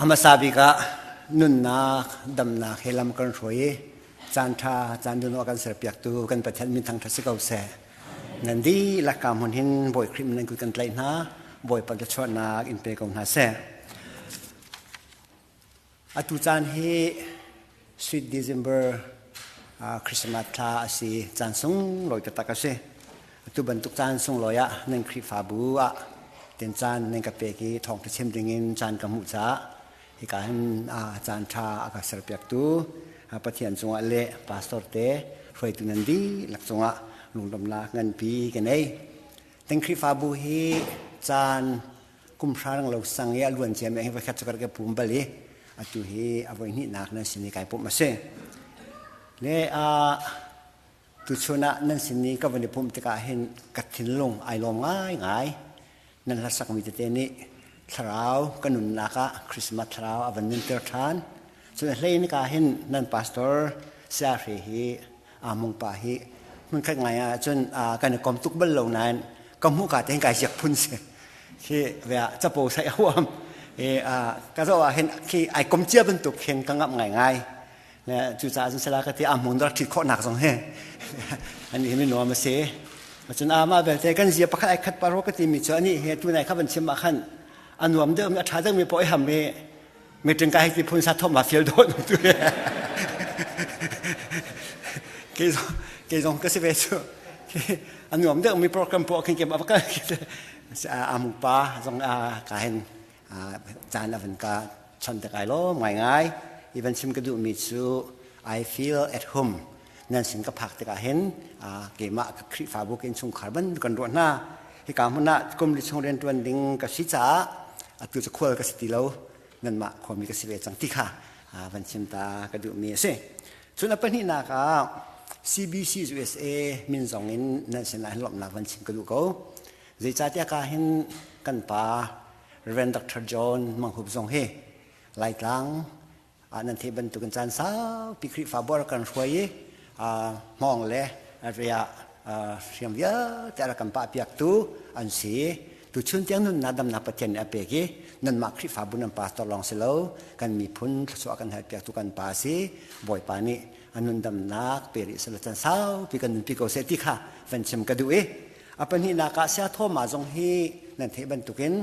A hmasa bik ah nunnak, damnak he lam kan hruai i caanṭha, caan dun awk kan serpiaktu kan Pathian min thangṭhat si ko seh. Nan dihlak ka hmun hin Bawi Khrih nan kut kan tlaih hna. Bawipa thluachuahnak in pe ko hna seh. Atu caan hi Sweet December uh, Christmas thla a si. Caan sunglawi taktak a si. Atu bantuk caan sunglawi ah nan Khrihfabu ah ten caan nan ka pek i thawng ka chim ding in caan ka hmuh caah Hika hin a caanṭha a ka serpiaktu Pathian cungah le pastor te hruaitu nan dihlak cungah lungdomnak nganpi ka nei. Kan Khrihfabu hi caan kum hrang lo sang i a luan cia me hi voikhat cu ka pum bal i atu hi a voi hnihnak nan sin i kai pum a si. Le a Tuchun ah nan sin i ka van i pumh tikah hin ka thinlung ai lawm ngaingai. Nan hlasakmi tete nih thlarau ka nunnak ah Christmas thlarau a van nunter ṭhan. Cun hlei nika hin nan pastor saya hre hi aa mung pa hi hmunkhat ngai ahcun kan i kom tuk bal lo nain ka hmuh ka tein kai ziak phun si. Khi ve ah capo saih a huam. Hi ka zoh ah hin khi ai kom cia bantuk khin ka ngamh ngaingai. le cucaah cun sala ka ti ah mun dor ṭhit khawhnak zong hi an hi nuam a si cun amah belte kan zia pakhat ai khat paro ka timi cu ani he tu nai kha van chim ah khan a nuam deuh mi a ṭha deuh mi pawh ham mi meeting ka hai ti phun sa thom ma fiel dawt tu ke zong ke zong ka si ve cu a nuam deuh mi program pawh khin ke ma ka amu pa zong ka hen caan a van ka chon te kai lawm ngaingai i van chim ka duhmi cu I feel at home nan sin ka phak tikah hin keimah ka Khrihfabu ka innchungkhar bantuk kan ruah hna hika hmun ah kum li chung rian ṭuan ding ka si caah atu cu khual ka si ti lo nanmah khuami ka si ve cang ti kha van chim ta ka duhmi a si cun a pahnihnak ah CBC USA min zong in nan sin ah lawmhnak van chim ka duh ko Zeicahtiah ka hin kan pa Reverend Dr. John Mang Hup zong hi Laitlang ah nan theih bantukin caan saupi Khrihfabu ah kan hruai i hmawng le ri ah hriam vialte a rak kan pahpiaktu an si. Tuchun tiang nunnak damnak Pathian nih a pek i nanmah Khrihfabu nan pastor lawng si lo kan miphun thluachuah kan halpiaktu kan pa si Bawipa nih a nun damnak pe rih selaw can saupi kan nunpi ko seh ti kha van chim ka duh i A pahnihnak ah Sia Thoma zong hi nan theih bantukin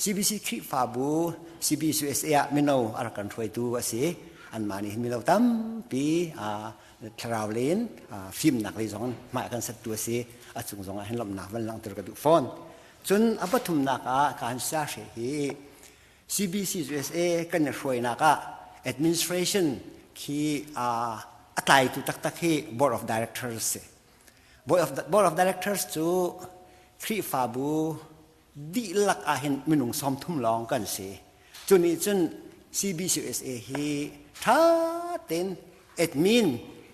CBC Khrihfabu CBCUSA ah mino a rak kan hruaitu a si. Anmah nih mino tampi thlarau le in fimnak lei zong mah kan sattu a si. A cung zong ah hin lawmhnak van langhter ka duh fawn. Cun a pathumnak ah ka han sa hre hi CBCUSA kan i hruainak ah administration khi a tlaitu taktak hi board of directors si. Board of Directors cu Khrihfabu dihlak ah hin minung sawmthum lawng kan si. Cu nih cun CBCUSA hi ṭha tein admin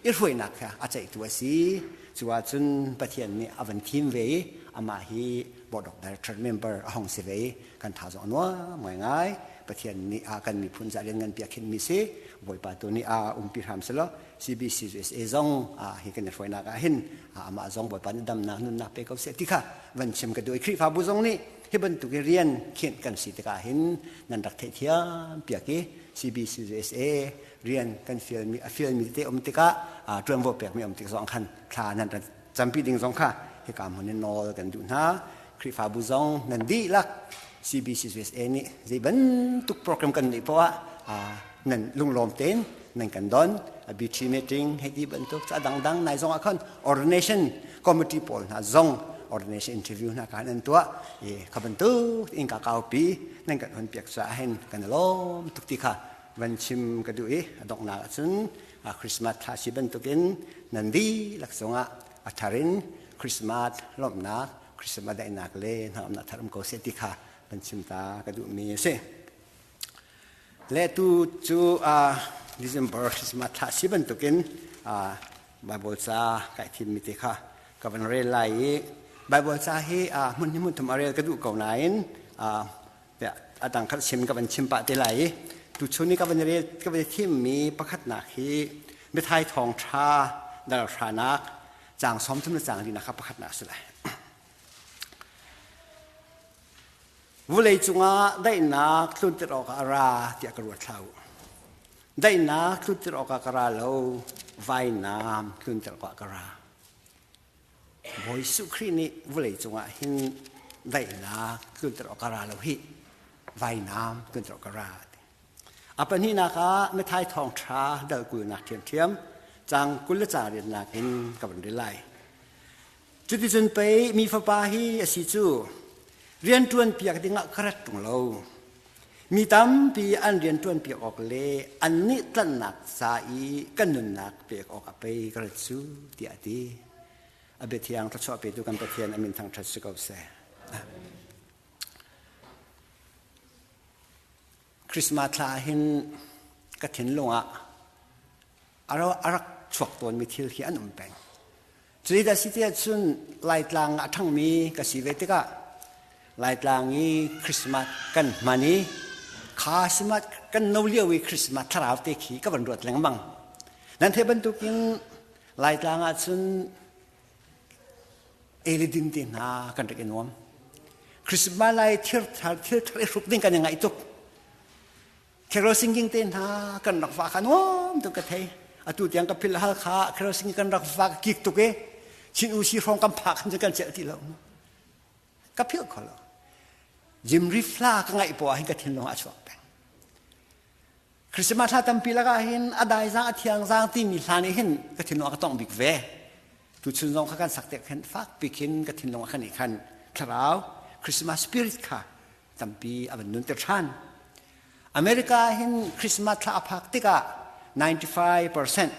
i hruainak kha a ceihtu a si. Cu ah cun Pathian nih a van thim ve i amah hi Board of Director member a hong si ve i kan tha zong a nuam ngaingai. Pathian nih a kan miphun ca rian nganpi a khenh mi si. Bawipa tu nih a umpi hram selaw CBCUSA zong hi kan i hruainak ah hin amah zong Bawipa nih damnak nunnak pe ko seh ti kha van chim ka duh i Khrihfabu zong nih hi bantuk i rian khinh kan si tikah hin nan rak theihthiam piak i CBCUSA rian kan fialmi a fialmi te um tikah ṭuanvo pekmi um tik zong khan thla nan Campi ding zong kha hika hmun in nawl kan duh hna. Khrihfabu zong nan dihlak CBCUSA nih zei bantuk program kan neih poah ah nan lunglawm tein nan kan don. A BT meeting hei ti bantuk ca dangdang nai zong ah khan ordination committee pawl hna zong ordination interview hna kan an tuah i kha bantuk in ka kaupi nan kan hon piak sa hen kan lawm tuk ti kha van chim ka duh i a donghnak ahcun Christmas thla si bantukin nan dihlak zongah a thar in Christmas lawmhnak, Christmas daihnak le hnangamnak tharum ko seh ti kha van chim ta ka duhmi a si. Le tu cu December Christmas thla si bantukin Bible ca kai thimmi te kha ka van rel lai i Bible ca hi hmun hi hmun thum a rel ka duh ko nain a dangkhat siam ka van chim pah te lai i tuchun i ka van i rel ka van i thimmi pakhatnak hi mithai thawngṭha dalalhranak caang sawm thum le caang rinak kha pakhatnak a si lai vulei cungah daihnak tlunter awkah a ra tiah ka ruat hlah u daihnak tlunter awkah ka ra lo vainam tlunter awkah ka ra Bawi Suh Khrih nih vawleicung ah hin daihnak tlunter awk a ra lo hi vainam tlunter awk a ra. A pahnihnak ah Mathai thawngṭha dalkulnak ṭhiamṭhiam cang kul le ca riatnak in ka van ril lai. Cuticun pei mi fapa hi a si cu rian ṭuan piak dingah ka rat ṭung lo. Mi tampi an rian ṭuan piak awk le annih tlanhnak ca i kan nunnak pek awk a pei ka rat su tiah a ti. A biathiang thluachuah petu kan Pathian a min thangṭhat si ko seh. Christmas thla ah hin ka thinlung ah a rak chuak tawnmi thil hi an um peng. Cuih ka si tiah cun Laitlang a ṭhangmi ka si ve tikah Laitlang i Christmas kan hman i kha simat kan no lio i Christmas thlarau te khi ka van ruat lengmang. Nan theih bantukin Laitlang ah cun eli ding te hna kan rak i nuam. Christmas lai thil thar thil thar i hrup ding kan i ngaih tuk. Kherol singing te hna kan rak va khan awm tu ka thei atu tiang ka phil hal kha kherol singing kan rak va kik tuk e chin u si hrawng kan phak khan kan cel ti lo ka phil kho lo jim rifla ka ngai po hin ka thin long a chuak peng christmas hla tampi laka hin a dai zang a thiang zang ti mi hla nih hin ka thin long ka tong bik ve tu chun zong kha kan sak te khen fak pikin ka thin long khan i khan thlarau christmas spirit kha tampi a van nun te than America hin Christmas thla a phak tikah 95%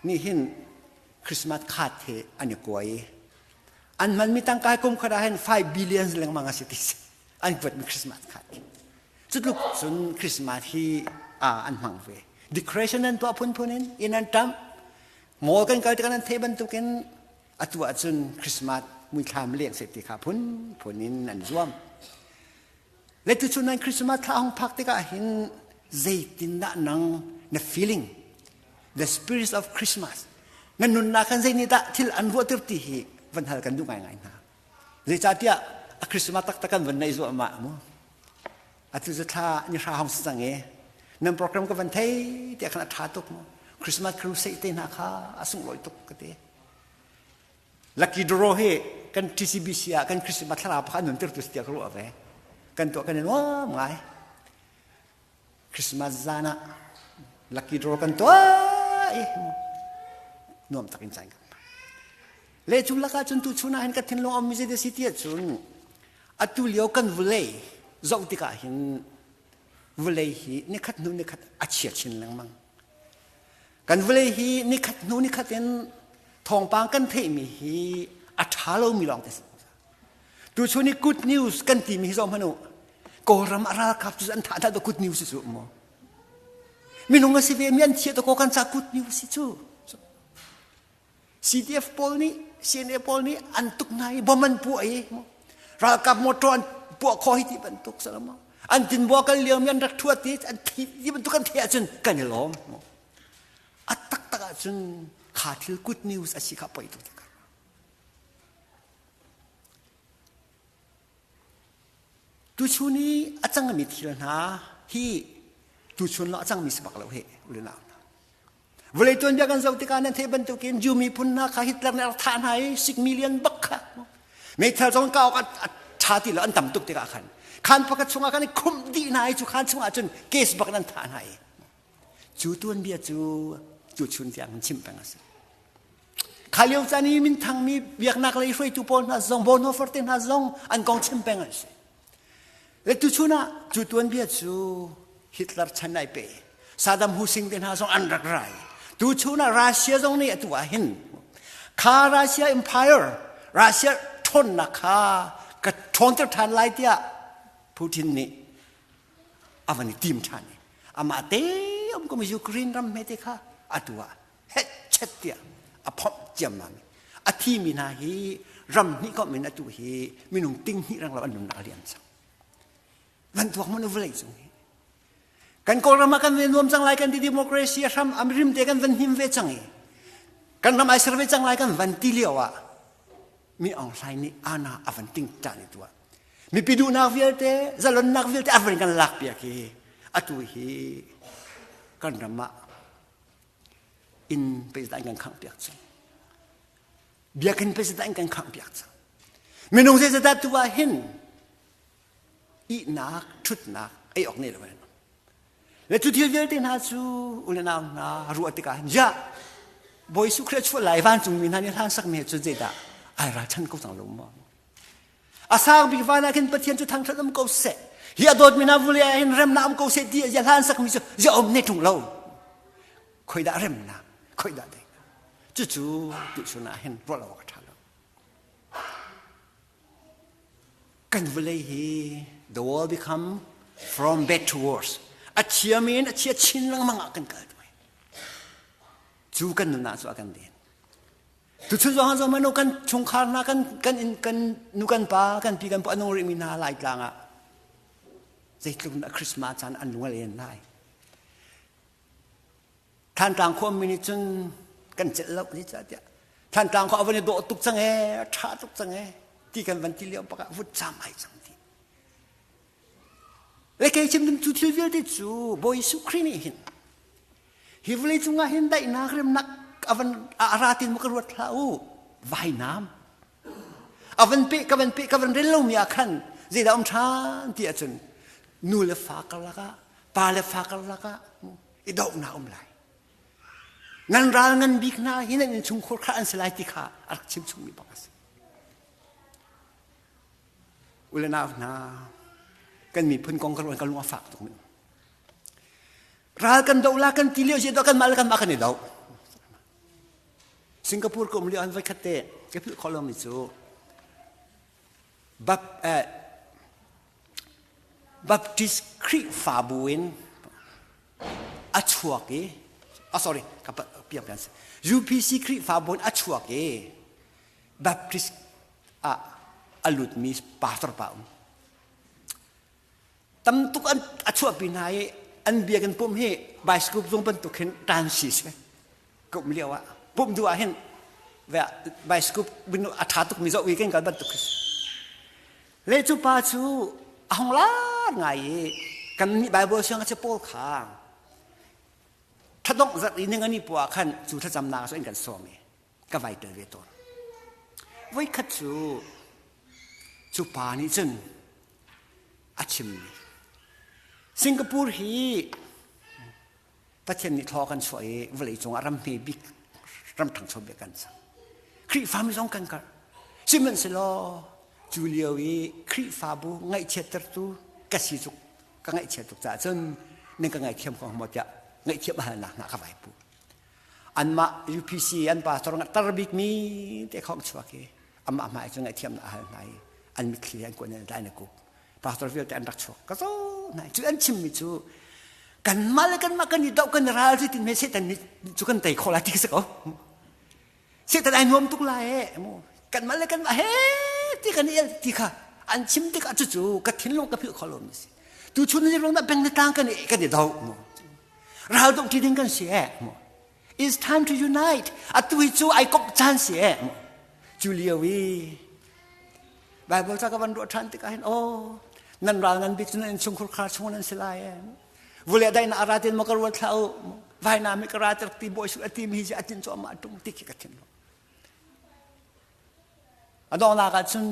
nih hin Christmas khat hi an i kuai an hmanmi tangka kum khat ah hin 5 billions lengmang a si ti an vuatmi Christmas khat cutluk cun Christmas hi an hmang ve declaration an tuah phunphun in in an tam ngol kan kal tikah nan theih bantukin Atu ahcun Christmas muithlam leng seh ti kha phunphun in an zuam. Letuchun nan Christmas thla hong phak tikah hin zeitindah nang na feeling the spirits of Christmas nan nunnak kan zei nih dah thil an ruahter ti hi van hal kan duh ngaingai hna zeicahtiah a Christmas taktak kan van nei zuahmah mu atu cu thla ni hra hong si cang e nan program ka van thei tiah khan a ṭha tuk mu Christmas crusade te hna kha a sunglawi tuk ka ti Lucky draw hi kan TCBC ah kan Christmas thlarau pakhat nun tirtu si tiah ka ruah ve. Kan tuah kan i nuam ngai. Christmas zan ah lucky draw kan tuah i nuam tak in cain le cu laka cun tu chun ah hin ka thinlung am mize de si tiah cun atu lio kan vulei zoh tikah hin vulei hi nikhat hnu nikhat a chia chin lengmang kan vawlei hi nikhat hnu nikhat in thawngpang kan theihmi hi a ṭha lomi lawng te si tu chu ni good news kan timi hi zong hmanu kawlram a ralkap cu an thah da good news cu mu minung a si ve mi an thieh to ko kan ca good news si cu CDF pawl nih CNA pawl nih an tuk hna i bom an puah i ralkap motor an puah kho hi ti bantuk salam an tinbua kal liam i an rak thuat i an thi ti bantuk an theih ahcun kan i lawm a tak tak ahcun kha thil good news a si kha poi tu takar Tuchun i a cangmi thil hna hi tuchun lo a cangmi si bak lo hi ulin au hna. Vawlei tuanbia kan zoh tikah nan theih bantukin Jew miphun hna kha Hitler nih a thah hna i sik million bak kha meithal zong ka awk a ṭha ti lo an tam tuk tikah khan khan pakhat chungah khan i khumh dih hna i cu khan chungah cun case bak in an thah hna i Cu tuanbia cu tuchun tiang an chimh peng a si. Kha lio caan i minthang mi biaknak lei hruaitu pawl hna zong Bonhoeffer te hna zong an kong chim peng an si. Le tuchun ah cu tuanbia cu Hitler chan ai pe. Saddam Hussein te hna zong an rak rai. Tuchun ah Russia zong nih atu ah hin kha Russia Empire Russia ṭhawnnak kha ka ṭhawnter ṭhan lai tiah Putin nih avan i tim ṭhan i amah te um ko Ukraine ram hmete kha atu ah hetchet tiah a phomh ciammam a thimi hna hi ram hnih kom in atu hi minung ting hnih rang lo an nunnak a lian cang van tuak mun vlei cung hi kan kawlram ah kan nuam cang lai kan ti democracy a hram am rim te kan van him ve cang i kan ram ai ser ve cang lai kan van ti lio ah mi Aung Hlaing nih ana a van ting ṭah ni tuah mipi duhnak vialte zalonnak vialte a van kan lak piak hi atu hi kan ram ah in peizat kan khangh piak cang biakinn peizat kan khangh piak cang minung zeizadah tu ah hin ihnak ṭhutnak ei awk ne lo an le cu thil vialte hna cu u le nau hna ruah tikah ja bawi su khre chuah lai vancungmi hna nih hlan sak ne cu zeidah ai ra than ko cang lo ma a sang bik van ah khin pathian cu thangthat um ko seh hi a dawtmi hna vule ah hin remna um ko seh ti ya hlan sakmi cu ya om ne ṭung lo khoidah remnak khoidah dei cucu tu chunah hin ruah lo awk a ṭha lo Kan vawlei hi the world become from bad to worse. A thiam in a thia chin lengmang ah kan kal ṭuai. Cu kan nunnak cu a kan den. Tuchun zong zong manu kan chungkhar hna kan kan in kan nu kan pa kan pi kan pa nung rih mi hna lai tlang ah zeitluk na Christmas caan an nual en lai. Thantlang khuami nih cun kan celh lo ni cah tiah Thantlang khua a van i dawh tuk cang e tha tuk cang e ti kan van ti lio bak ah vut cam ai cang ti le kei chim dim cu thil vialte cu Bawi Jesuh Khrih nih hin hi vawlei cung ah hin daihnak remnak a van a ra tin mu ka ruat hlah u vainam a van pe ka van pe ka van rel lomi ah khan zeidah um than ti ahcun nu le fa karlak ah pa le fa karlak ah i dohnak um lai nan ral ngan bik hna hi nan innchungkhur kha an si lai ti kha a rak chimchungmi bak a si ule nau hna kan miphun kong kan kan lung a fak tuk ning ral kan do la kan ti lio si do kan mah le kan mah kan i do Singapore ko um lio an voi khat te ke philh kho lo mi cu bap eh, Baptist Khrihfabu in a chuak i, oh sorry, UPC Khrihfabu in a chuak i, Baptist ah a lutmi pastor pa um. Tamtuk an a chuahpi hna i, an biakinn pum hi bicycle zung bantuk hin ṭan si si. kum lio ah pumh duh ah hin bicycle a ṭha tuk mi zohvi kan kal bantuk le cu pa cu a hong lar ngai i kannih Bible siang a si pawl kha thladongh zat i ning an i pua khan cu thlacamnak so in kan sawm i ka vai tel ve tawn voi khat cu cu pa nih cun a chimmi Singapore hi Pathian nih thla kan chuah i vawleicung ah ram hme bik ram ṭhangcho bik kan sang. Khrihfami zong kan karh. Sihmanhsehlaw cu lio i Khrihfabu ngaihchiattertu ka si cu ka ngaihchiat tuk caah cun nan ka ngaihthiam ko maw tiah ngaihthiam halnak hna ka vai pu. Anmah UPC an pastor nga tar bikmi te khawng chuak i amah hmai cun ngaihthiamnak a hal hna i an mitthli an kuan in dai na kup. pastor vialte an rak chuak ka zo na cu an chimmi cu kan mal kan mah kan i doh kan i ral si tin me setan ni cu kan tei khola ti se ko setan ai nuam tuk la e mu kan mal le kan mah he ti kan i ti kha an chim tik a cu ka thinlung ka phil kholo mi si tu chun ni rong na beng na tang kan i kan i do mu ral dong ti ding kan si e mu it's time to unite atu hi cu ai kok chan si e mu cu lio i Bible ca ka van ruah ṭhan tikah hin aw nan ral ngan bik cu nan chungkhur khar chung nan si lai em vule dai na ara tin ma ka ruat hlah u vai na mi ka ra ter ti boy su ati mi ji atin cho ma tung ti ki ka thin lo adona ka chun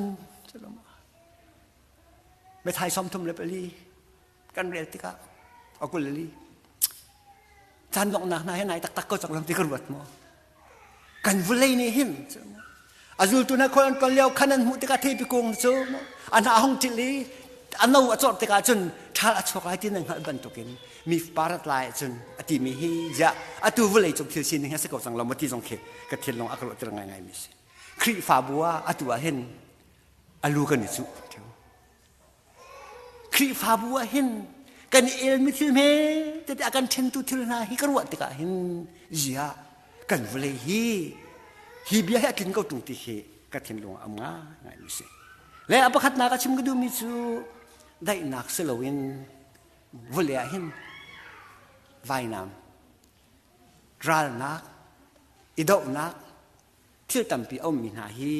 chulum me thai som thum le pali kan rel tikah a kulali caan donghnak hna hi nai taktak ko cang lang ti ka ruat maw kan vulei nih hin a zultu hna khual an kol lio khan an hmuh tikah theipi kung cu an ha hong til i a no a cawrh tikah cun ṭhal a chuak ai ti nan hngalh bantukin mi parat lai cun a ti mi hi ya atu vulei cung thil sining hi a si ko cang lo ti zong khi ka thil lawng a ka ruahtir ngai ngai mi si khrihfabu ah atu ah hin a lu kan i cuh Khrihfabu ah hin kan i elmi thil hme tete a kan ṭhentu thil hna hi ka ruah tikah hin ziah kan vawlei hi hi bia hi a tlin ko ṭung ti hi ka thinlung ah am ngaimi a si. Le a pakhatnak a chim ka duhmi cu daihnak si loin vawlei ah hin vainam, ralnak, i dohnak, thil tampi a ummi hna hi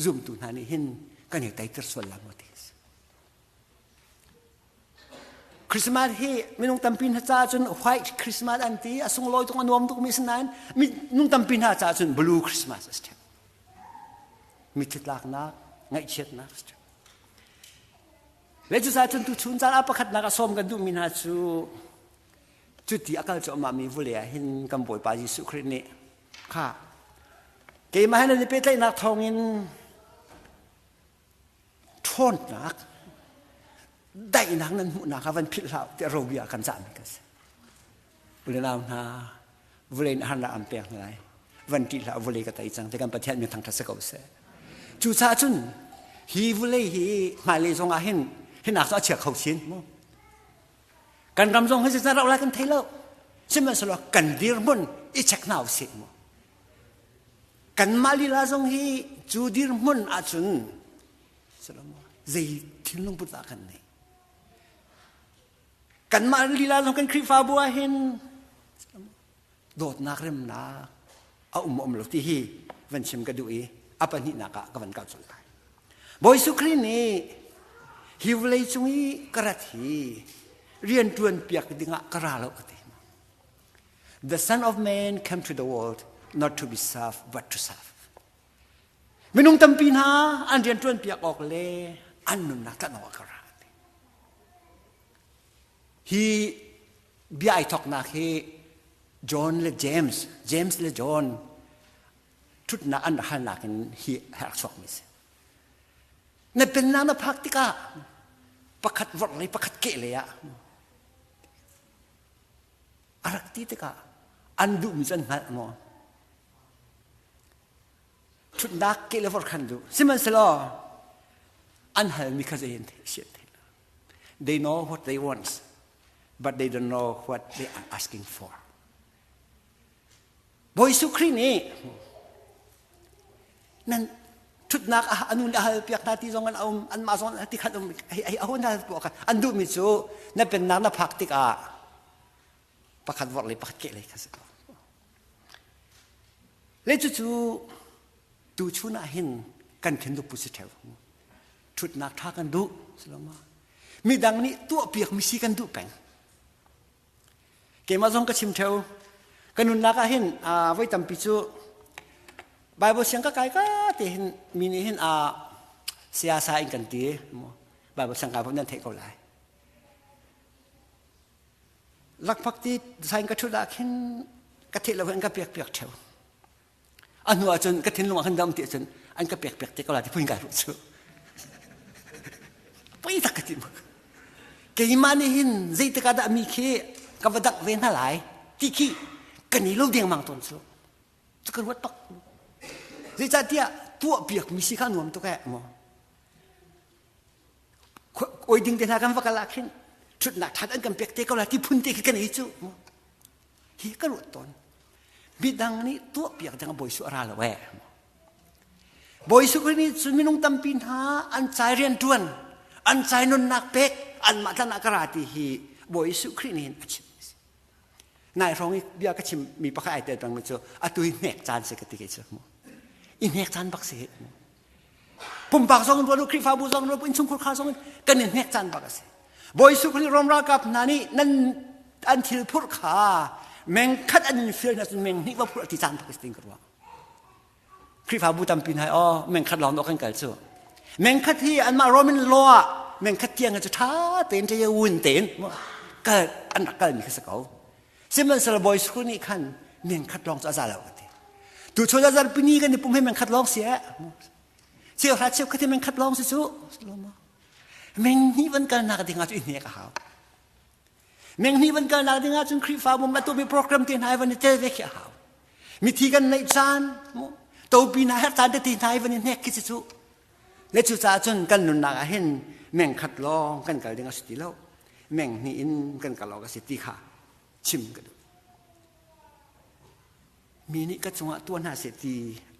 zumtu hna nih hin kan i teitir sual la maw ti a si. Christmas hi minung tampi hna caah cun white Christmas an ti a sunglawi tung a nuam tukmi si nain minung tampi hna caah cun blue Christmas a si ṭhep. Mithitlaknak, ngaihchiatnak a si ṭhep. Le cu caan tu chun caan ah pakhatnak a sawm kan duhmi hna cu cuti a kal cu amah mi vule ah hin kan Bawipa Jesuh Khrist nih kha keimah he nan i pehtlaihnak thawngin ṭhawnnak daihnak nan hmuhnak kha van philh hlah tiah robia kan cahmi kan si ule nau hna vulei na harnak an pek hna lai van ṭih hlah vulei ka tei cang ti kan pathian min thangṭhat si ko seh cucaah cun hi vulei hi hmailei zongah hin hinak cu a chia kho sin mu Kan ram zong hi zeizan rauh lai kan thei lo. Sihmanhsehlaw kan dirhmun i chek hna u sih mu. Kanmah lila zong hi cu dirhmun ahcun zei thinlung put dah kan nei. Kanmah lila zong kan Khrihfabu ah hin dawtnak remnak a um um lo ti hi van chim ka duh i a pahnihnak ah ka van kal colh lai bawi sukhri nih hi vawlei cung i ka rat hi rianṭuan piak dingah ka ra lo ka ti the son of man came to the world not to be served but to serve minung tampi hna an rianṭuan piak awk le an nunnak tlan awk ka ra hi bia ai thoknak hi John le James James le John ṭhutnak an halnak in hi a rak chuakmi a si na pennak na phak tikah pakhat vorh le pakhat keh le ah a rak ti tikah an duhmi cu an hngalh maw ṭhutnak keh le vorh khan duh sihmanhselaw an halmi kha zei an theih siat theih they know what they want but they don't know what they are asking for. Bawi Jesuh Khrih nih nan thutnak ah anu na hal piak hna ti zong an um anmah zong ti khat um hei aho na hal puak an duh mi cu na pennak na phak tik ah pakhat vor le pakhat ke le kha si le cu cu tu chun ah hin kan khin du pu si theo Ṭhutnak ṭha kan duh, siloma midang nih tuahpiakmi si kan duh peng. Keimah zong ka chim theo. Ka nunnak ah hin voi tampi cu Bible siang ka kai ka te hin mi nih hin a siasa in kan ti. Bible siang kai nan theih ko lai. Lakphak ti sain ka ṭhut ah khin ka theih lo hin ka piak piak theo. a hnu ah cun ka thinlung ah khan dam ti ahcun an ka pekpek te ko la ti pun kai ruh cu poi tak ka ti mu keimah nih hin zeitik ah dah mi khi ka va dak ve hna lai ti khi ka ni lo dengmang tawn cu cu ka ruat pak zeicahtiah tuah piak mi si kha nuam tuk eh maw oi ding te hna kan va kal ah khin ṭhutnak ṭhat an kan pek te ko la ti phun te khi ka nei cu hi ka ruat tawn midang nih tuahpiak ding bawi su a ra lo e bawi su nih cun minung tampi hna an cai rian tuan an cai nunnak pek an mah tlan ah ka ra ti hi bawi su khrih nih a chim nai hrawng i bia ka chim mi pakhat ai tel pang cu a tui hnek caan se ka ti ke cu i hnek caan bak se pumpak zong in ruat u khrihfabu zong in ruat u innchungkhur kha zong in kan i hnek caan bak a si bawi Jesuh Khrih Rom ralkap hna nih nan an thil phurh kha meng khat an in fial hna cun meng hnih va phurh ti caan bak a si ting ka ruah khrihfabu tampi hna aw meng khat lawng kan kal cu meng khat hi anmah Roman law ah meng khat tiang cu ṭha tein ṭe wun tein kal an rak kalmi kha si ko Sihmanhsel boy school nih khan men khat lawng cu a za lo ka ti. Tu chun azar pini kan ipum he men khat lawng si eh. Cheu ha cheu khat men khat lawng si cu. Meng hnih van kal nak dingah cu i hnek a hau. Meng hnih van kal nak dingah cun Khrihfa bum atu mi program te hna van i tel ve khi a hau. Mithi kan neih caan, topi na her tan te ti hna i van i hnek khi si cu. Le cucaah cun kan nunnak ah hin meng khat lawng kan kal ding a si ti lo meng hnih in kan kal awk a si ti kha chim ka duh mi nih ka cungah tuah hna seh ti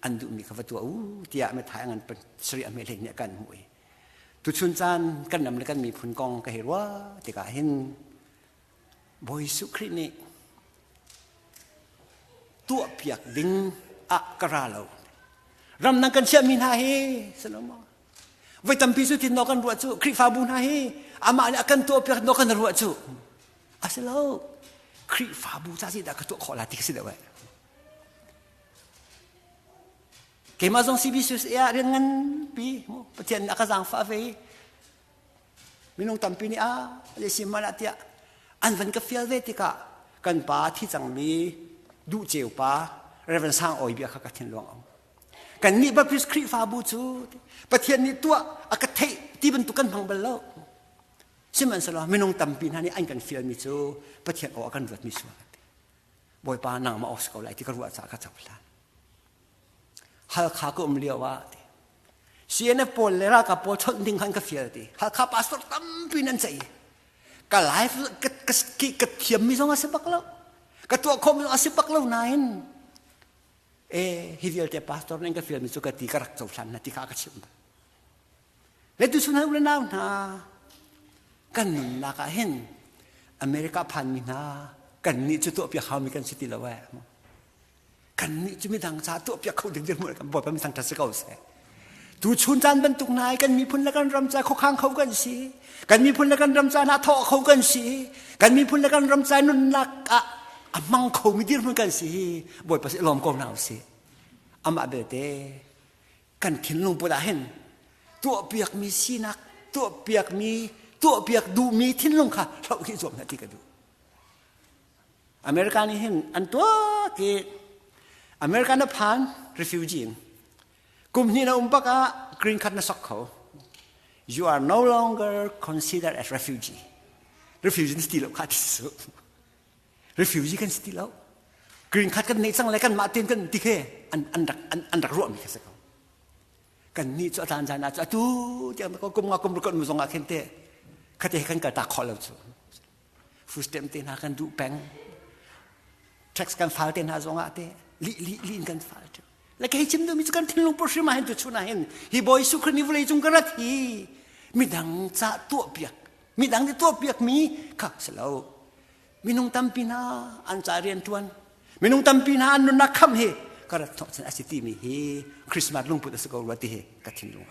an duhmi kha va tuah u tiah methai a ngan sarih a mehlei nih a kan hmuh i tuchun caan kan ram le kan miphun kong ka hei ruah tikah hin Bawi Suh Khrih nih tuahpiak ding ah ka ra lo. Ramdang kan chiahmi hna hi, Solomon, voi tampi cu tin nok kan ruah cu, Khrihfabu hna hi, amah nih a kan tuahpiak nok kan ruah cu. A si lo. Khrihfabu ca si dah ka tuah khawh la ti ka si deuh eh. Keimah zong CBCUSA ah rian nganpi, Pathian nih a ka zaangfah ve i, minung tampi nih ah asi man ah tiah an van ka fial ve tikah kan pa thi cangmi duh ceu pa Reverend Sang Awi bia kha ka thin luang au kan nih Baptist Khrihfabu cu Pathian nih tuah a ka theih ti bantuk kan hmang bal lo sihmanhsehlaw minung tampi hna nih an kan fialmi cu Pathian aw a kan ruatmi sual ati Bawipa nangmah awk si ko lai ti ka ruah caah ka cohlan Halkha ka um lio ah CNF pawl le ralkap pawl chawnh ding khan ka fial ti Halkha passport tampi nan ceih ka life ka, ka, ka thiammi zong a si bak lo ka tuah khawm zong a si bak lo nain e hi vialte pastor nih ka fialmi cu ka ti ka rak cohlan na ti kha ka chim letu sunai ule nau hna kan nunnak ah hin America phanmi hna kan nih cu tuahpi haumi kan si ti lo eh kannih cu midang caah tuahpiak kho ding dirhmun kan bawi pami thangṭhat si ko seh tu chun caan bantuk hna kan miphun le kan ram ca khukhang kho kan si kan miphun le kan ram ca hna thawh kho kan si kan miphun le kan ram ca nunnak ah a mang kho mi dirhmun kan si hi bawipa si lawm ko hna usih amah belte kan thinlung put ah hin tuahpiak mi sinak tuahpiak mi tuahpiak duhmi thinlung kha hloh khi zuam hna ti ka duh America nih hin an tuak i America na phan refugee in kum hnih na um bak ah green card na sok kho you are no longer considered as refugee refugee na si ti lo kha ti su refugee kan si ti lo green card kan nei cang le kan mah ten kan ti khe an an rak an an rak ruah mi kha se ko kan ni cu atlan zan cu atu ti ko kum nga kum rukot mu zong ah khen te khate kan ka ta khol lo chu Footstep te hna kan duh peng. Tax kan fal te hna zongah te li li li in kan fal te. Le kei chim duhmi cu kan thinlung purhrim ah hin tu chun ah hin hi Bawi Jesuh Khrih nih vawlei cung ka rat hi midang ca tuahpiak midang nih tuahpiak mi kha si lo minung tampi hna an ca rian tuan minung tampi hna an nunnak kham hi ka rat thawh chan a si timi hi Christmas lungput a si ko rua ti hi ka thinlung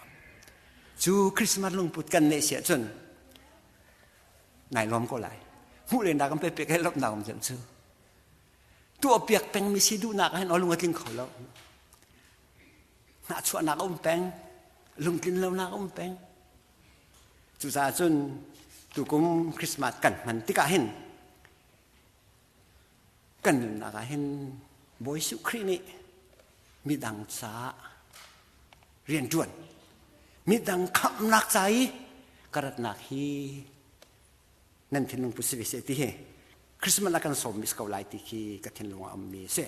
cu Christmas lungput kan neh si ahcun nai nuam ko lai hmuh le nak am pe pek he lop nak um cem cu tu a piak pengmi si duhnak ah hin o lung a tling kho lo hna chuahnak um peng lungtlin lonak um peng cucaah cun tukum Christmas kan hman tikah hin kan nunnak ah hin Bawi Jesuh Khrih nih midang caah rianṭuan midang khamhnak ca i ka ratnak hi nan thinlung pu si ve seh ti hi Christmas ah kan sawmmi si ko lai ti khi ka thinlung ah ummi a si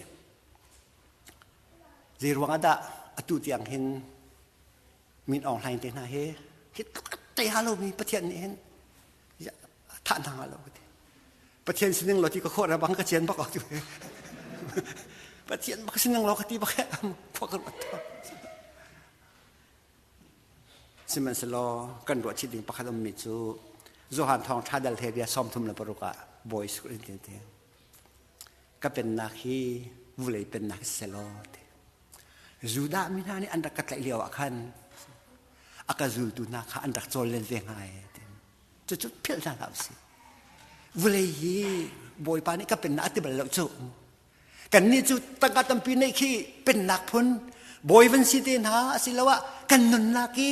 zei ruang ah dah atu tiang hin min aung hlaing te hna hi hi tuk te halomi Pathian nih hin thah hna lo ka ti pathian sining lo ti ka khawh ra bang ka cian bak tu pathian bak sining lo ka ti bak he khua ka ruat to sihmanhselaw kan ruah chih ding pakhat um mi cu Johan thong tha dal he bia som thum la paruka boys in te te ka pennak hi vulei pennak selo te Judah mi hna nih an rak ka tlaih lio ah khan a ka zultu hna kha an rak cawl len ve hnga cucu philh hna hlah usih vulei hi bawipa nih ka pennak a ti bal lo cu kannih cu tangka tampi neih khi pennak phun bawi van si te hna asiloah kan nunnak i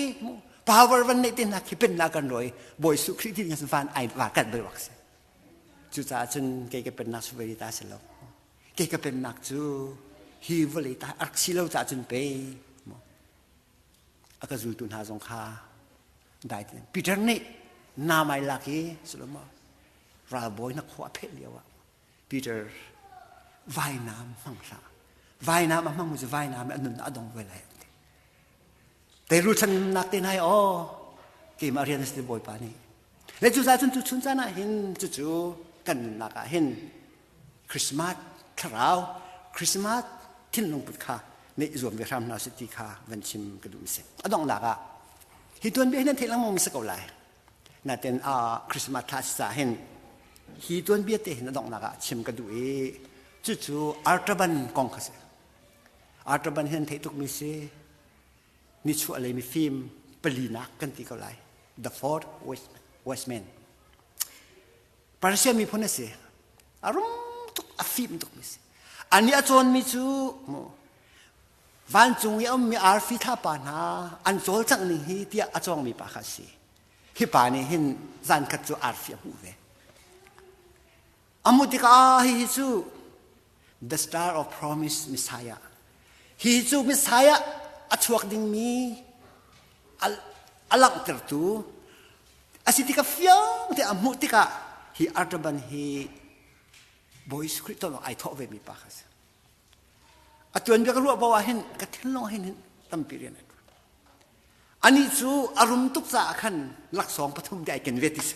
power van neih te hna khi pennak kan roi bawi su khrih ti van ai va kan bel wak si cucaah cun kei ka pennak su veri ta si lo Kei ka pennak cu hi vawlei ta a rak si lo caah cun pei a ka zultu hna zong kha dai Peter nih nam ai lak i Solomon ralbawi na khua a pheh lio ah Peter vainam hmang hlah vainam a hmang mu cu vainam a nun a dong ve lai te ru thlan nak te nai aw keimah rian na si bawipa nih Le cuca cun tuchun caan ah hin cucu kan nunnak ah hin Christmas thlarau Christmas thinlung put kha neih zuam ve hram hna sih ti kha van chim ka duh mi si a donghnak ah hi tuanbia hi nan theih lengmang mi si ko lai naten a Christmas thla si ca hin hi tuanbia te hin a donghnak ah chim ka duh i cucu artaban kong kha si artaban hi nan theih tuk mi si nichuahlei mifim palinak kan ti ko lai the fourth westman persia miphun a si a rum tuk a fim tuk mi si ani a cawnmi cu vancung i a ummi arfi thlapa hna an cawl cang ning hi tiah a cawngmi pa kha a si hi pa nih hin zankhat cu arfi a hmuh ve amu tikah hihi cu the star of promise messiah hihi cu messiah a chuak dingmi a langhtertu asi tika fiang te a hmuh tikah hi artaban hi boy script to ai tho ve mi pa kha si atuan bia ka ruah bo ah hin ka thin long hin hin tampi rian Anih cu a rum tuk caah khan laksawng pathum te ai ken ve tis.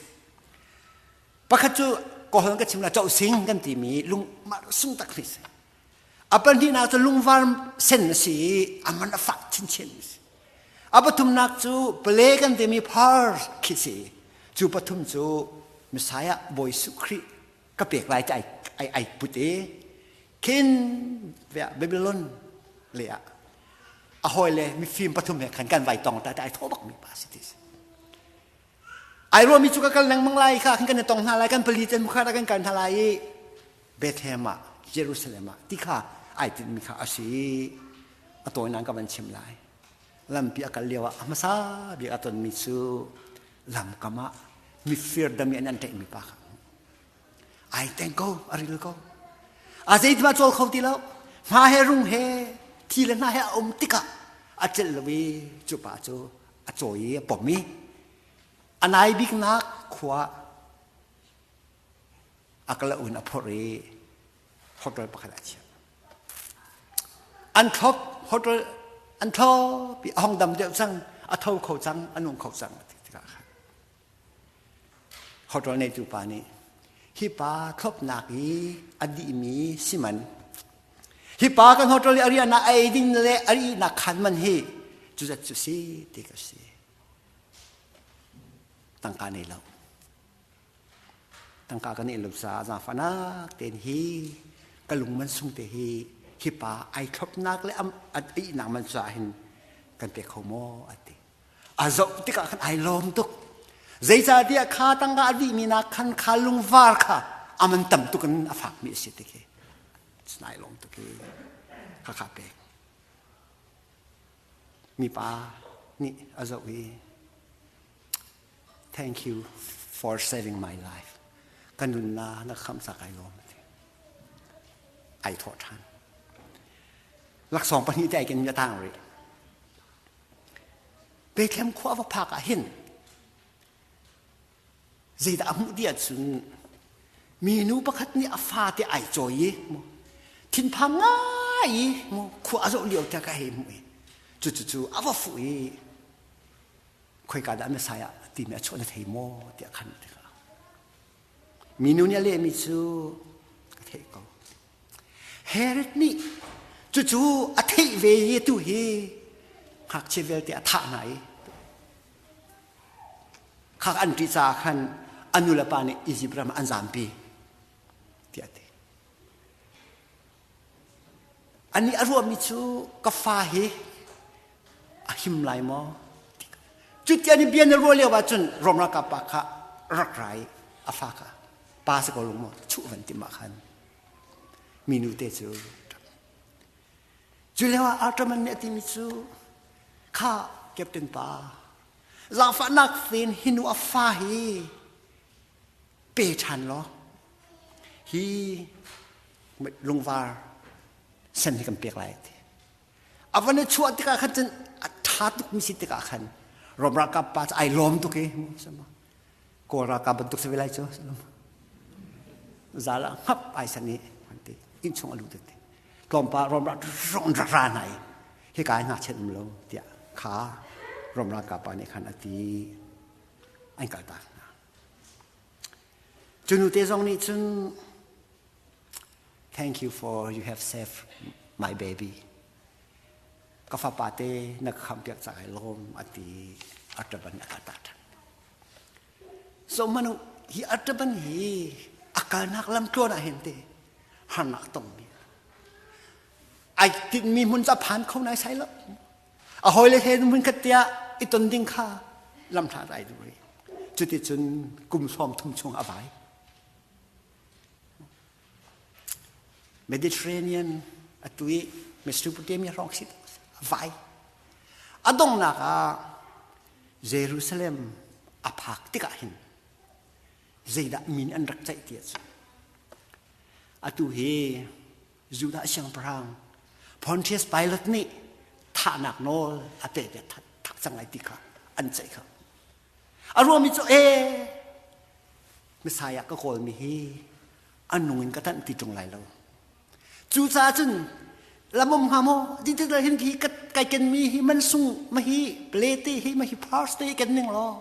Pakhat cu kohon ka chim la coh sing kan timi lungmar sung tak ni si. A pahnih nak cu lungvar sen a si i a man a fak chinchin ni si. A pathum nak cu pale kan timi phar khi si. Cu pathum cu Messiah Bawi Suh Khrih ka pek lai te ai, ai, ai put i khin vea Babylon le ah a hoi le mifim pathum he khan kan vai tong ta ta ai tho bak mi pa si tis ai ruami cu ka kal nang mang lai kha khan kan tong hna lai kan pali ten mukhara kan kan hna lai i Bethlehem ah Jerusalem ah ti kha ai tin mi kha asi a tawi nang ka van chim lai lampi a kal lio ah a hmasa bik a ton mi cu lamkam ah mifir dam in an tlaih mi pa kha ai teng ko a ril ko a zeiti mah cawl kho ti lo hna he rung he thi le hna he a um tikah a celh lo i cu pa cu a cawi i a pom i a nai biknak khua a kala un a phorh i hotel pakhat a chiah an thlop hotel an thlop i a hong dam deuh cang a tho kho cang a nung kho cang tikah khan hoṭol ngeitu pa nih hi pa thlopnak i a dihmi si man hi pa kan hoṭol i a riahnak a ei ding le a rihnak khan man hi cuzat cu si ti ka si tangka nei lo tangka kan ei lo caah zafanak tein hi ka lung man sung te hi hi pa ai thlopnak le am a ihnak man caah hin kan pe kho maw a ti a zoh tikah khan ai lawm tuk zeicahtiah kha tangka a dihmi nak khan kha lungvar kha aman tam tuk in a fakmi a si tik hi sinai lawm tuk hi khakha pek mipa nih a zoh i thank you for saving my life ka nun la na khamsa kai lawm ai thawh ṭhan laksawng pahnih te ai ken mi a tang rih Bethlehem khua va phak ah hin zeidah a hmuh tiah cun minu pakhat nih a fate ai cawi i thinphang ngai i khua a zoh lio tiah ka hei hmuh i cucucu a va fuh i khoika dah Messiah timi a chuah na thei maw tiah khan minu nih a lehmi cu ka theih ko Herod nih cucu a theih ve i tu hi ngakchia vialte a thah hna i khak an ṭih caah khan a nu le pa nih Izipt ram an zampi tiah ti anih a ruahmi cu ka fa hi a him lai maw? Cuti ni bia na ruah lio ahcun Rom ralkap pa kha rak ra i a fa kha pa si ko lung maw chuh van ti ma khan minu te cu cu leo ah Artaman nih a timi cu kha captain pa zaangfahnak fen hinu a fa hi pe ṭhan law hi lungvar sen hi kan pek lai ti A van i chuah tikah khan cun a ṭha tukmi si tikah khan Rom ralkap pa cu ai lawm tuk i Kawl ralkap bantuk si ve lai cu zal ah ngap ai san i an ti inn chung a lut ti tlawmpal Rom rong ra hna i hika ai ngakchiat um lo tiah kha Rom ralkap pa nih khan a ti an kaltak Cu nu te zong nih cun thank you for you have saved my baby. Ka fapa te na ka khampiak cak ai lawm a ti a taban a ka ta than. So manu hi a taban hi a kalnak lamtluan ah hin te harnak tongmi ai tinmi hmun ca phan kho nai sai lo A hawile he hmunkhat tiah i ton ding kha lamhla ai dum rih. Cuticun kum hrawm thum chung a vai. Mediterranean a tu i Mesopotamia hrawng si a vai. A donghnak ah Jerusalem a phak tikah hin zeidah min an rak ceih ti a cu. Atu hi Judah siangpahrang Pontius Pilate nih thahnak nawl a peh ti thak cang lai ti kha an ceih kha a ruami cu e Messiah ka kawlmi hi an nung in ka tanh ti ṭung lai lo cucaah cun lamom hnga maw dintikda hin hi kai kenmi hi mansung ma hi plate hi ma hi pars te ken ning law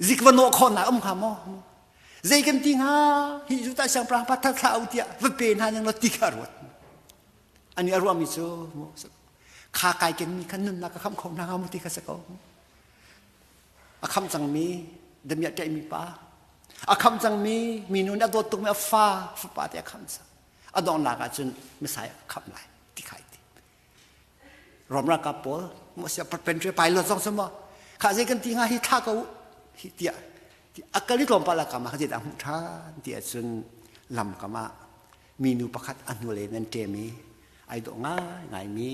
zik va nawh khawhnak um hnga maw zei kan ti hnga hi zu ta siang prang pathar thla u tiah va pe hna ning lo ti kha ruat ani a ruami cu kha kai ken mi khan nunnak ka kham kho hna hnga mu ti kha se ko a kham cangmi damiah ṭaih mi pa a kham cangmi minu nih a dawt tukmi a fa fapa te a kham sa a donglak ah cun misai a kham lai ti khai ti Rom ralkap pawl maw si patriotic pilot zong su maw kha zei kan ti nga hi thla ko hi tia akali tlawmpal la kama khazi dah hmuh than ti ahcun lam kama minu pakhat ahnule nan ṭem i ai dawh ngai ngai mi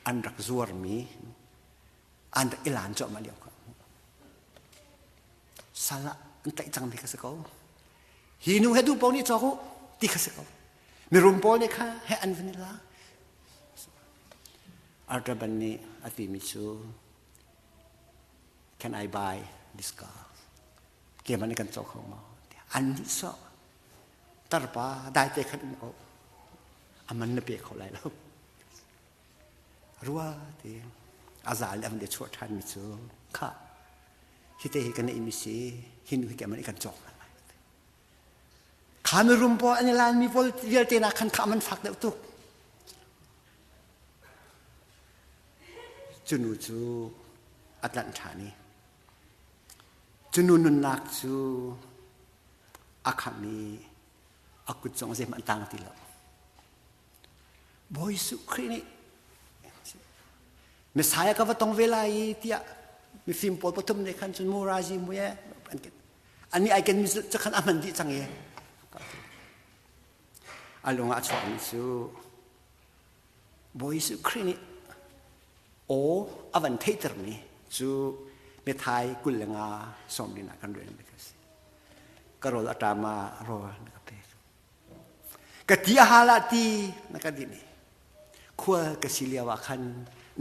an rak zuar mi an rak ilan cuahmah lio ka sala an tlaih cang mi ka si ko hi nu he du pau nih cawk u ti ka si ko Mirum pawl nih kha he an van i la. Artaban nih a timi cu can I buy this car? Keman kan cawk hau maw? An nih so tarpa dai te khan oh aman na pe kho lai lo rua ti azal le amde chuah than mi cu kha hite hi kana imisi hinu hi keman kan cawk lai Kha na rum pawl an i lanmi vialte na khan kha man fak deuh tuk. Cunu cu a tlanh ṭhan i cunu nunnak cu a khamh i a kut zong zeihmanh a tang ti lo. Bawi Jesuh Khrih nih Messiah ka va tong ve lai i tiah mifim pawl pathum nih khan cun murazi mui an Ani ai ken mi cu cakhan a hman dih cang i a lung ah a chuak mi cu Bawi Jesuh Khrih nih aw a van theihter mi cu methai kul le nga sawm rin ah kan rel mi ka si ka rawl a ṭam ah rawl na ka pek ka ti a hal ah ti na ka dih ni khua ka si lio ah khan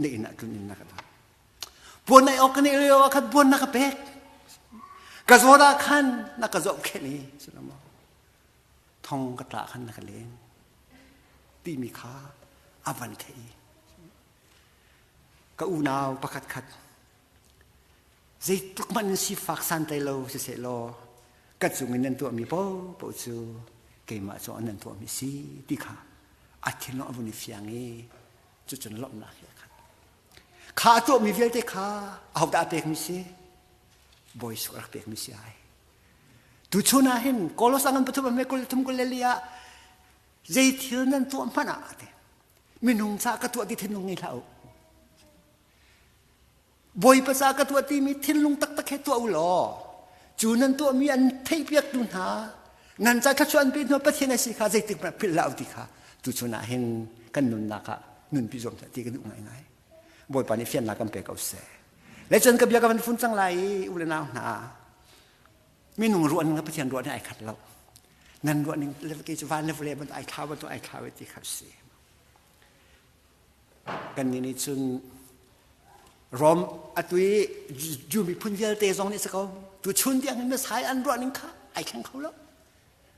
na inn ah tlun in na ka dah puan ei awk kan ei lio ah khan puan na ka pek ka zawn ah khan na ka zoh khen i sinamaw thong ka tla khan na ka len timi kha a van theih i ka unau pakhat khat zeitluk man in sifak santlai lo siseh law ka cung in nan tuahmi popo cu keimah cu nan tuahmi si ti kha a thinlung a vun i fiang i cucun lawmhnak hi a khat Kha a tuahmi vialte kha ahodah a pekmi si? Bawi suk rak pekmi si ai. Tuchun ah hin Kolos angan pathum ah me kul thum kul le li ah zei thil nan tuah hmanh ah ate minung ca ka tuah ti thinlung ngei hlah u. Bawipa ca ka tuah ti mi thinlung taktak he tuah u law cu nan tuahmi an theihpiaktu hna nan ca thluachuanpi hnu pathian asi kha zeitik hmanh philh hlah ti kha tu chunah hin kan nunnak ah nunpi zuam hlah ti kan duh ngaingai bawipa nih fiannak kan pe ko seh lecun ka bia ka van fun cang lai i u le nau hna minung ruah ning pathian ruah ning ai khat lo nan ruah ning le kei cu van le vule ban ai thla ban tu ai thla ve ti kha si Kannih nih cun Rom atu i Jew miphun vialte zong nih a si ko. Tuchun tiangin Messiah an ruah ning kha ai thleng kho lo.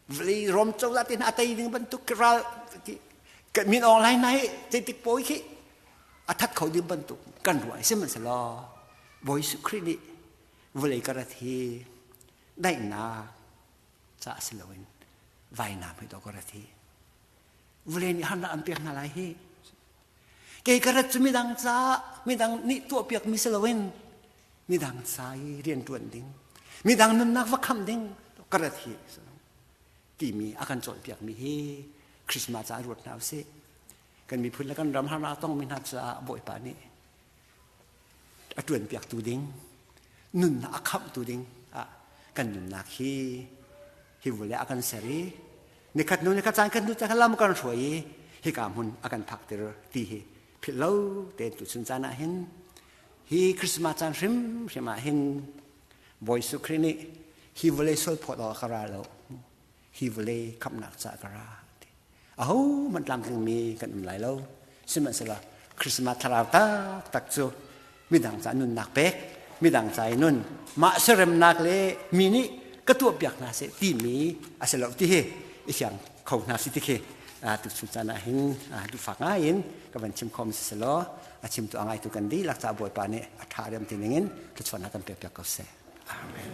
Vawlei Rom cozah te hna a tei ding bantuk ki ral min ong lai nai zeitik pawi khi a that kho ding bantuk kan ruah sihmanhsehlaw Bawi Jesuh Khrih nih vawlei karat hi daihnak ca si loin vainam hi to karat hi vule nih harnak an pek hna lai hi kei ka rat cu midang ca midang nih tuahpiak mi si loin midang ca i rianṭuan ding midang nunnak va khamh ding ka rat hi timi a kan cawnpiak mi hi Christmas ca ruat hna usih kan miphun le kan ram harnak a tongmi hna caah bawipa nih a ṭuanpiaktu ding nunnak a khamhtu ding ah kan nunnak hi hi vule a kan ser i nikhat hnu nikhat caan kan hnu caan lam kan hruai i hika hmun a kan phak tir ti hi philh lo te tu chun caan ah hin hi christmas caan hrim hrim ah hin bawi su kri nih hi vule sol phawt awk ka ra lo hi vule khamnak ca ka ra ahohmanh tlamtlingmi kan um lai lo sihmanhsehlaw Christmas thlarau taktak cu midang ca nunnak pek midang ca i nun mah seremnak le mi nih ka tuahpiak hna seh timi a si lo ti hi i fiang kho hna si ti khi tuchun caan ah hin duhfak ngai in ka van chim khom si selaw a chim tu a ngai tu kan dihlak ca bawipa nih a ṭha riam ti ning in thluachuahnak kan pe piak ko seh amen